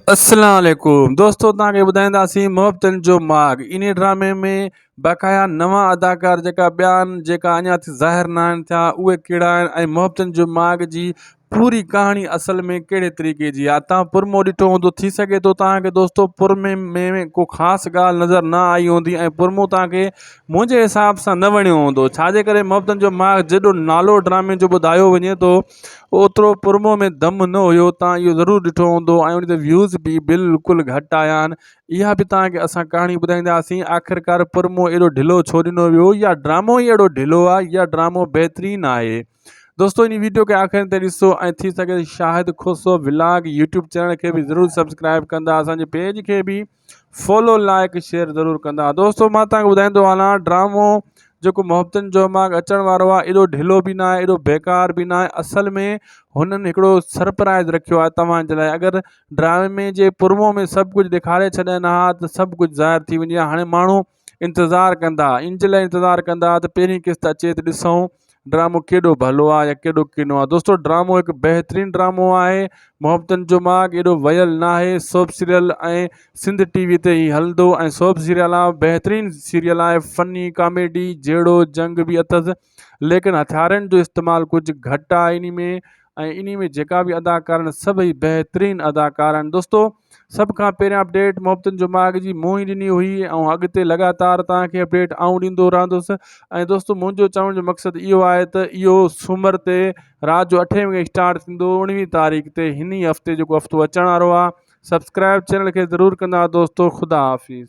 اسلام عليڪم دوستو توهان کي ٻڌائينداسين محبتن جو ماڳ انهي ڊرامي ۾ باقايا نوان اداڪار جيڪا ٻيا آهن جيڪا اڃا ٿي ظاهر نه آهن ٿيا اهي ڪهڙا آهن ۽ محبتن جو ماڳ جي پوري ڪهاڻي اصل ۾ ڪهڙي طريقي جي آهي توهان پرمو ڏٺو هوندو ٿي سگهي ٿو توهان کي دوستو پرمي ۾ ڪو خاص ڳالهه نظر نه آئي هوندي ۽ پرمو توهان کي منهنجي حساب سان نه وڻيو هوندو ڇاجي ڪري محبتن جو ماڳ جيڏو نالو ڊرامي جو ٻڌايو وڃي ٿو اوترو پرومو ۾ دم نه هيو توهان اهو ضرور ڏٺو هوندو ۽ ان تي ويوز به بلڪل گهٽ آيا آهن اها به توهان کي اسان ڪهاڻي ٻڌائينداسين آخرڪار پرومو اهڙو ڍلو ڇو ڏنو ويو يا ڊرامو ئي اهڙو ڍلو آهي يا ڊرامو بهترين آهي دوستو ان ويڊيو کي آخر تائين ڏسو ۽ ٿي سگهي Shahid Khoso vlog YouTube channel کي به ضرور سبسڪرائب ڪندا اسانجي پيج کي به فالو لائيڪ شيئر ضرور ڪندا دوستو مان تان ٻڌائيندو هلان ڊرامو جيڪو محبتن جو ماڳ اچڻ وارو آهي ايڏو ڍلو به ناهي ايڏو بيڪار به ناهي اصل ۾ هنن هڪڙو سرپرائز رکيو آهي توهان جي لاء اگر ڊرامي جي پرمو ۾ سڀ ڪجهه ڏيکاري ڇڏين ها ته سڀ ڪجهه ظاهر ٿي وڃي ها هاڻي ماڻهو انتظار ڪندا ان جي لاء انتظار ڪندا ته پهرين قسط اچي ته ڏسون ڊرامو ڪيڏو ڀلو آ يا ڪيڏو ڪنو آ دوستو ڊرامو هڪ بهترين ڊرامو آهي محبتن جو ماڳ ايڏو ويل نه آهي سوپ سيريل ۽ سنڌ ٽي وي تي هي هلندو ۽ سوپ سيريل آ بهترين سيريل آهي فني ڪاميڊي جهيڙو جنگ به اٿس ليڪن هٿيارن جو استعمال ڪجهه گهٽ آهي انهي ۾ ۽ انهي ۾ جيڪا به اداڪارا آهن سڀئي بهترين اداڪارا آهن دوستو سڀ کان پهريان اپڊيٽ محبتن جو ماڳ جي مون ئي ڏني هئي ۽ اڳتي لڳاتار توهان کي اپڊيٽ آئون ڏيندو رهندس ۽ دوستو منهنجو چوڻ جو مقصد اهو آهي ته اهو سومر تي رات جو اٺين وڳي اسٽارٽ ٿيندو اڻويهين تاريخ تي هن هفتي جيڪو هفتو اچڻ وارو آهي سبسڪرائب چينل کي ضرور ڪندا دوستو خدا حافظ